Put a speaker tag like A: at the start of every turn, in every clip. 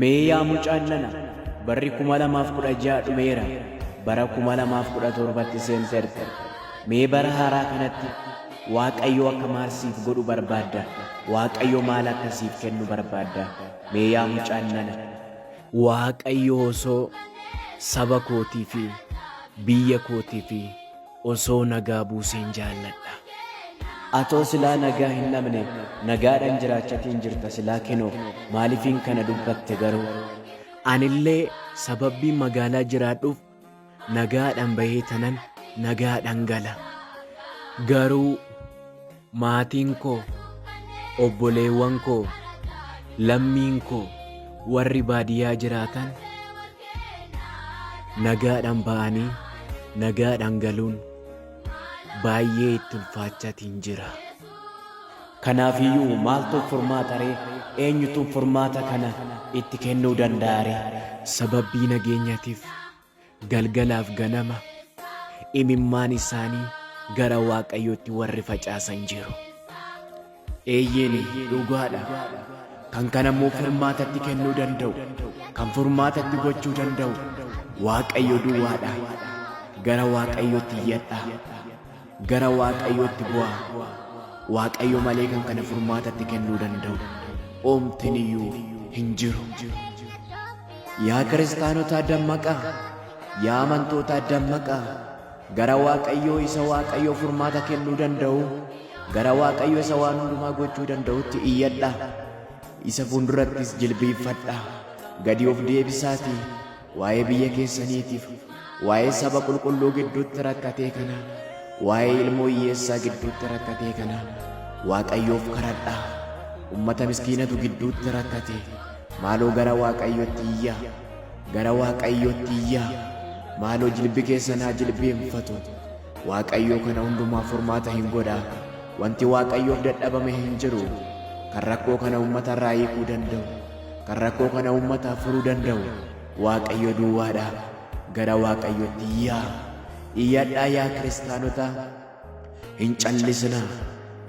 A: Mee yaa mucaan nana barri 2016 dhumeera bara 2017tti seenteerta. Mee bara haaraa kanatti Waaqayyo akka maal siif godhu barbaadda? Waaqayyo maal akka siif kennu barbaadda? Mee yaa mucaan nana. Waaqayyo osoo saba kootii fi biyya kootii fi Osoo nagaa buuseen jaalladha. Atoo silaa nagaa hin dhabne nagaadhan jiraachatiin jirta silaa kinoo maalifiin kana dubbatte garuu. Anillee sababbiin magaalaa jiraadhuuf nagaadhan bahee tanan nagaadhan gala. Garuu. Maatiin koo, obboleewwan koo, lammiin koo warri baadiyyaa jiraatan nagaadhaan ba'anii nagaadhaan galuun baay'ee itti ulfaachaatiin jira. Kanaafiyyuu maaltu furmaata ree? Eenyutu furmaata kana itti kennuu danda'a ree? Sababbii nageenyatiif Galgalaaf ganama imimmaan isaanii gara Waaqayyootti warri facaasan jiru. Eeyyeen, dhugaadha. Kan kana immoo furmaatatti kennuu danda'u, kan furmaatatti gochuu danda'u Waaqayyo duwwaadha. Gara Waaqayyootti iyyadhaa. Gara waaqayyootti bu'aa. Waaqayyo malee kan kana furmaata itti kennuu danda'u oomtiniyyuu hin jiru. Yaa kiristaanotaa dammaqaa! Yaa amantootaa dammaqaa! Gara waaqayyoo isa waaqayyoo furmaata kennuu danda'u, gara waaqayyo isa waan hundumaa gochuu danda'utti iyyadhaa. Isa fuuldurattis jilbiiffadhaa. Gadi of deebisaatii waa'ee biyya keessaniitiif, waa'ee saba qulqulluu gidduutti rakkatee kanaa, waa'ee ilmoo hiyyeessaa gidduutti rakkatee kanaa Waaqayyoof karadhaa. Ummata miskiinatu gidduutti rakkate. Maaloo gara Waaqayyootti iyyaa. Gara Waaqayyootti iyyaa. Maaloo jilbi keessan haa jilbeenfatu. Waaqayyoo kana hundumaa furmaata hin godhaa. Wanti Waaqayyoof dadhabame hin jiru. Kan rakkoo kana ummata irraa hiikuu danda'u. Kan rakkoo kana uummataaf furuu danda'u Waaqayyo duwwaadha. Gara Waaqayyotti iyyaa. Iyyadhaa yaa kiristaanota. Hin callisinaa.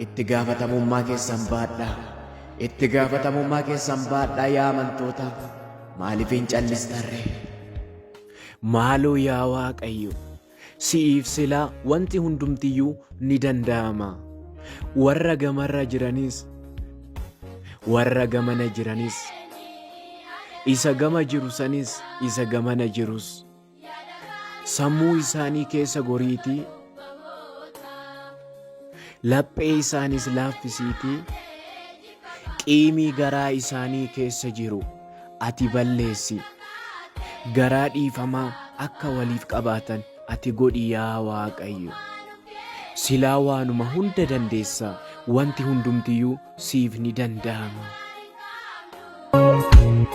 A: Itti gaafatamummaa keessan baadhaa. Itti gaafatamummaa keessan baadhaa yaa amantoota. Maaliif hin callistarree? Maaloo yaa Waaqayyo! Si'iif sila wanti hundumtiyyuu ni danda'ama. Warra gamarra jiranis, warra gamana jiranis, isa gama jiru sanis, isa gamana jirus, sammuu isaanii keessa goriitii, laphee isaanis laaffisiitii, Qiimii garaa isaanii keessa jiru ati balleessi. Garaa dhiifamaa akka waliif qabaatan ati godhi yaa Waaqayyo. Silaa waanuma hunda dandeessa, wanti hundumtiyyuu siif ni danda'ama.